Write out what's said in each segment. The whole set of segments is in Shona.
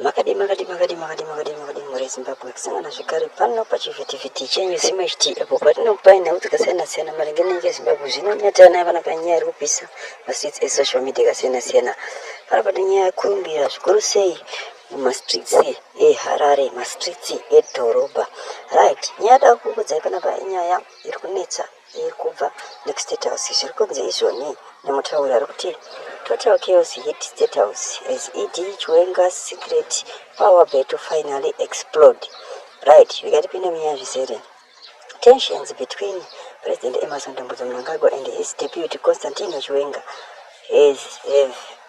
makadii makadii makadii makadii makadii makadii mhuri yezimbabwe kusangana zvekare pano pachivhitivhiti chenyu zimwe chiti apo patinokupai nhau dzakasiyana siyana maringe nenyika yezimbabwe zvino nyatira nayo vana panyaya iri kupisa mastreets esocial media akasiyana siyana pano pane nyaya yekurumbira zvikuru sei mumastreets eharare mastreets edhorobha right nyaya yada kukudzai panapa inyaya iri kunetsa Iyi kubva next state house zviri kunzi izvoni nemutauri ari kuti total chaos hit state house as ed chiwenga secret power battle finally explode right zvikatipinda munyaya zvizere tensions between president emerson dambudzo mnangagwa and his deputy constantino chiwenga has have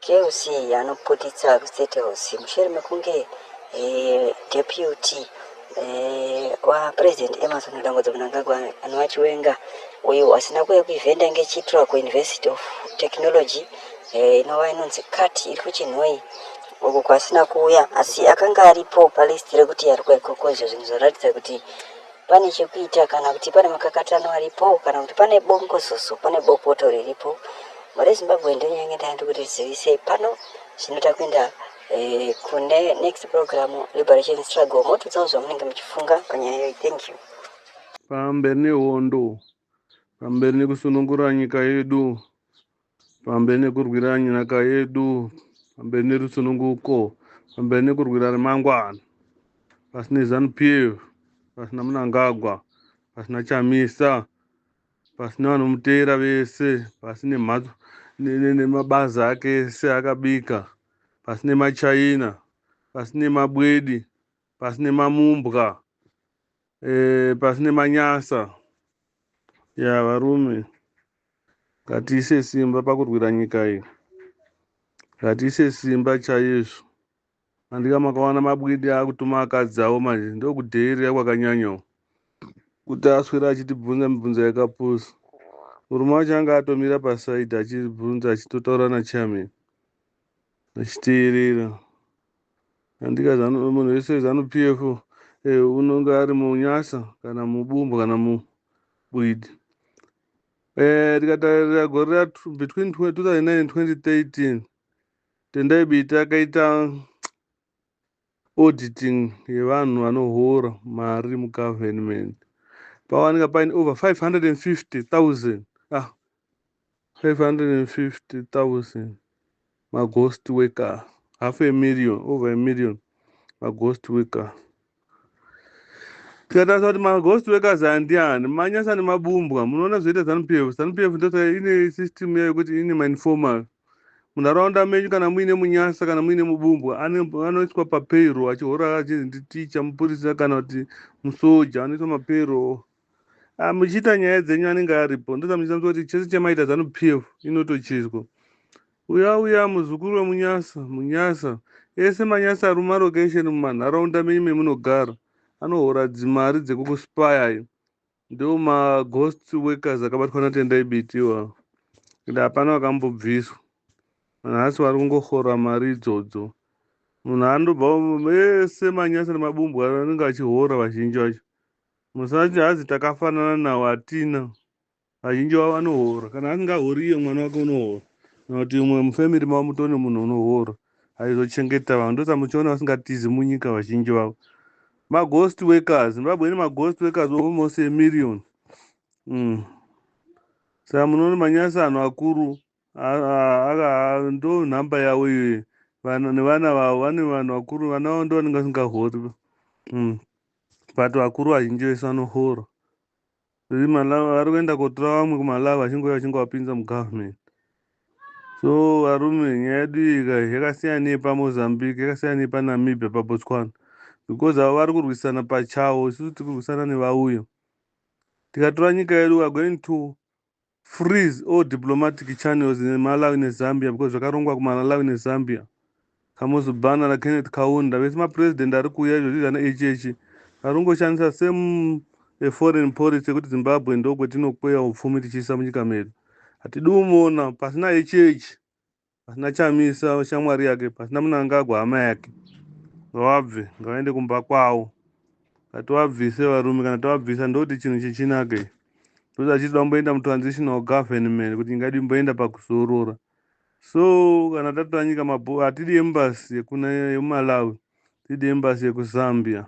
King Cee anoputitsa kuState House mushure mekunge eh, deputy eh, waPresident Emmerson Mnangagwa Mnangagwa anova Chiwenga uyo asina kuuya kuevhenda ngechiitirwa kuUniversity of Technology eh, inova inonzi cat iri kuChinhoyi uko kwaasina kuuya asi akanga aripo palist rekuti ari kuuya ikoko izvo zvinhu zvinoratidza kuti pane chekuita kana kuti pane makakatano aripo kana kuti pane bongozozo pane bopoto riripo rezimbabwe ndonyenge ndaandi kuti zivisei pano zvinoita kuenda eh, kune next program liberation struggle motudzawo zvamunenge muchifunga panyaya yoyi thank you pamberi nehondo pamberi nekusunungura nyika yedu pamberi nekurwira nyika yedu pamberi nerusununguko pamberi nekurwira remangwana pasina zanu pf pasina munangagwa pasina chamisa pasina vanomuteera vese pasi nemhatso ne- ne- nemabazi ake ese akabika pasi nemachaina pasi nemabwedi pasi nemamumbwa eh, pasi nemanyasa ya varume ngatiise simba pakurwira nyika iyi ngatiise simba chaizvo andika makawana mabwidi akutuma akadzi avo manje ndokudheerera kwakanyanyawo kuti aswera achitibvunza mibvunzo yakapusa murume wacho anga atomira pasaidi achibvunza achitotaura nachairman achiteerera Andika zanu, munhu wese zanu PF eh, unonge ari munyasa kana mubumbu kana mubwidi. Eh, tikatarira gore ra tw- between tw- 2009 and 2013 Tendai Biti akaita auditing yevanhu vanohora mari mugovernment pawanika paine over 550,000 ah, 550,000 maghost worker half a million over a million maghost worker tikatarisa kuti maghost workers aya ndiani manyasa nemabumbwa munoona zvoita zanu p f zanu p f ndosaka ine system yayo yekuti ine mainformal munharaunda menyu kana muine munyasa kana muine mubumbwa anoiswa papayroll achihora achinzi nditicha mupurisa kana kuti musoja anoiswa mapayroll Ah, muchiita nyaya dzenyu anenge aripo ndoda muchisanzwa kuti chese chamaita zanu p f inotochizwa uya uya muzukuru wemunyasa munyasa ese manyasa ari mumarokesheni mumanharaunda menyu memunogara anohora dzimari dzekukuspaya ayo ndiwo maghost workers akabatwa natendai biti iwawo ende hapana vakambobviswa nhasi vari kungohora mari idzodzo munhu anobva ese manyasa nemabumbwa anenge achihora vazhinji vacho Musati hazi takafanana nawo hatina vazhinji vavo vanohora kana asingahori iye mwana wake unohora kana kuti umwe mufamily mavo mutone munhu unohora aizochengeta vanhu ndosa muchiona vasingatizi munyika vazhinji vavo maghost workers zimbabwe ine maghost workers almost a million mm. saka munoona manyasi anhu akuru ndo nhamba yavo iyoyo vana nevana vavo vane vanhu vakuru vana vavo ndovanenge vasingahori mm. but vakuru vazhinji vese vanohora vari kuenda kotora vamwe kumalawi vachingouya vachingovapinza mugovernment so varume nyaya yedu ika yakasiyana nepamozambique yakasiyana nepanamibia pabotswana because avo vari kurwisana pachavo isusu tiri kurwisana nevauyo tikatora nyika yedu weare going to Freeze all diplomatic channels in Malawi ne Zambia because zvakarongwa ku Malalawi ne Zambia. Kamuzu Bana na Kenneth Kaunda vese ma president ari kuuya izvozvi zvana Echechi vari kungoshandisa same a foreign policy yekuti Zimbabwe ndokwetino kweya upfumi tichiisa munyika medu. Hatidi umona pasi na Echechi. pasina chamisa shamwari yake pasina munangagwa hama yake ngavabve ngavaende kumba kwavo ngativabvise varume kana tavabvisa ndoti chinhu chichinake ndoda achiti vamboenda mutransitional government kuti nyika yedu imboenda pakuzorora so kana tatora nyika mabho hatidi embasi yekuna yemumalawi tidi embasi yekuzambia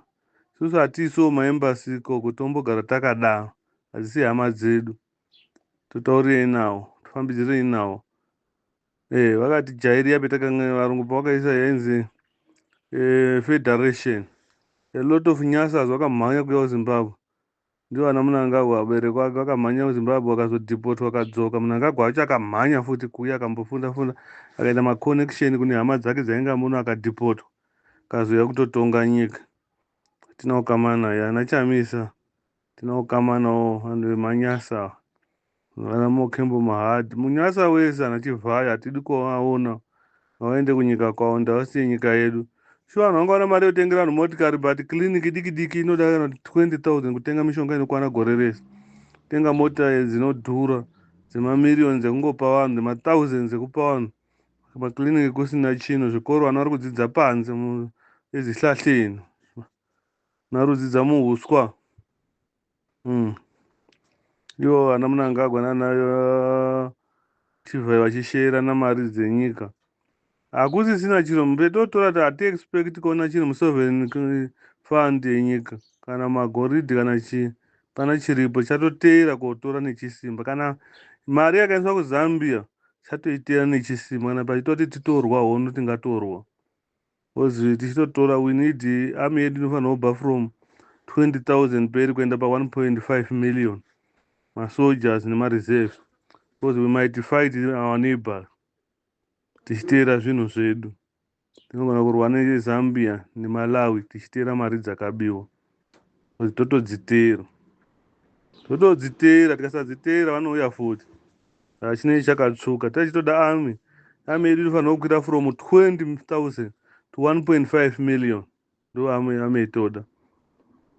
susu hatiisiwo maembasi ikoko tombogara takadaro hadzisi hama dzedu totaurirei nawo tofambidzirei nawo eh vakati jairi yapi takanga varungu pavakaisa yainzi eh, federation a lot of nyasas vakamhanya kuya kuzimbabwe ndivo ana munangagwa vabereki vake vakamhanya kuzimbabwe vakazodhipotwa akadzoka munangagwa wacho akamhanya futi kuya akambofunda funda akaita maconnection kune hama dzake dzainga muno akadhipotwa akazouya kutotonga nyika tinawo kamana yana chamisa Tinokama nawo vanhu vemanyasa vana mokembo mahad munyasa wese ana chivhayo hatidi kuvaona vaende kunyika kwavo ndavasiye nyika yedu shuwa vanhu vanga vana mari yotengera vanhu motikari but clinic idiki diki inoda kana 20000 kutenga mishonga inokwana gore rese tenga mota dzinodhura dzemamirioni dzekungopa vanhu dzemathousands dzekupa vanhu maclinic kusina chino zvikoro vana vari kudzidza panze ezihlahleni Narudzi dzamuhuswa. Mm. Yo ana munangagwa nana uh, chivhai vachishera namari dzenyika. Hakusisina chiro mupetotora ta hati expect kuona chiro musovereign uh, fund yenyika kana magoridhi kana chii kana chiripo chatoteera kotora nechisimba kana mari yakaendeswa kuzambia chatoiteera nechisimba kana pachitoti titorwa hono tingatorwa Coz tichitotora we need army yedu inofanirwa kubva from 20,000 mberi kuenda pa 1.5 million ma soldiers nema reserves coz we might fight our neighbour tichiteera zvinhu zvedu. Tinogona kurwa ne Zambia ne Malawi tichiteera mari dzakabiwa. totodziteera totodziteera tikasadziteera vanouya futi saka chinenge chakatsvuka tachitoda army army yedu inofanira kukwira from 20000 to 1.5 million ndo army army itoda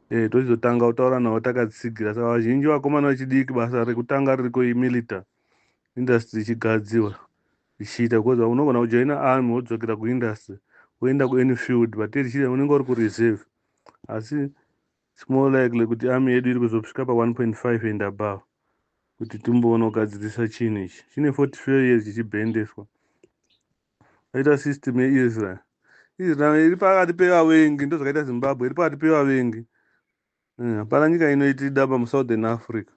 eh tochizotanga kutaura navo takatsigira saka vazhinji vakomana vechidiki basa rekutanga ririko imilita industry ichigadziwa ichiita because unogona kujoina army wodzokera kuindustry woenda kuany field but iri chiri unenge uri kureserve asi it's more likely kuti army yedu iri kuzosvika pa 1.5 and above kuti timboona kugadzirisa chinhu ichi chine 44 years chichibhendeswa aita system yeisrael israel iri pakati pevavengi ndozvakaita zimbabwe iri pakati pevavengi eh, hapana nyika inoitida pamusouthern africa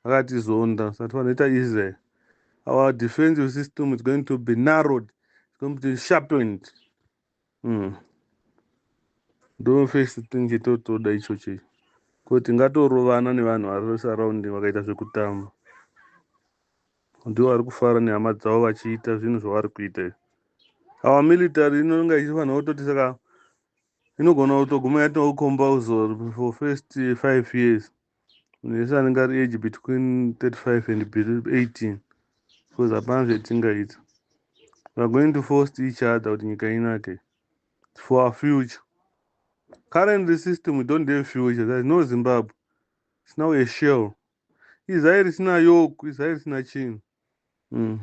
akatizonda sati vanoita israel our defensive system is going to be narrowed it's going to be sharpened Mm. Ndo first thing chitotoda ichocho icho. Ko tingatorovana nevanhu vari vesurrounding vakaita zvekutamba. Ndiwo vari kufara nehama dzavo vachiita zvinhu zvavari kuita izvi. Our military inonga ichifanira kutoti saka inogona kutoguma yatokomba uzor for first five years munhu wese anenge ari age between 35 and 18 because hapana zvetingaita weare going to force each other kuti nyika inake for our future currently system we don't have future there's no zimbabwe it's now a shell izai risina yoku izai risina chinhu Mm.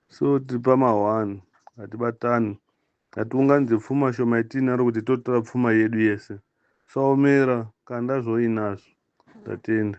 So tiri pama one hatibatani hatiunganidze pfuma shoma yatiinaro kuti totora pfuma yedu yese saomera kanda zvoinazvo tatenda.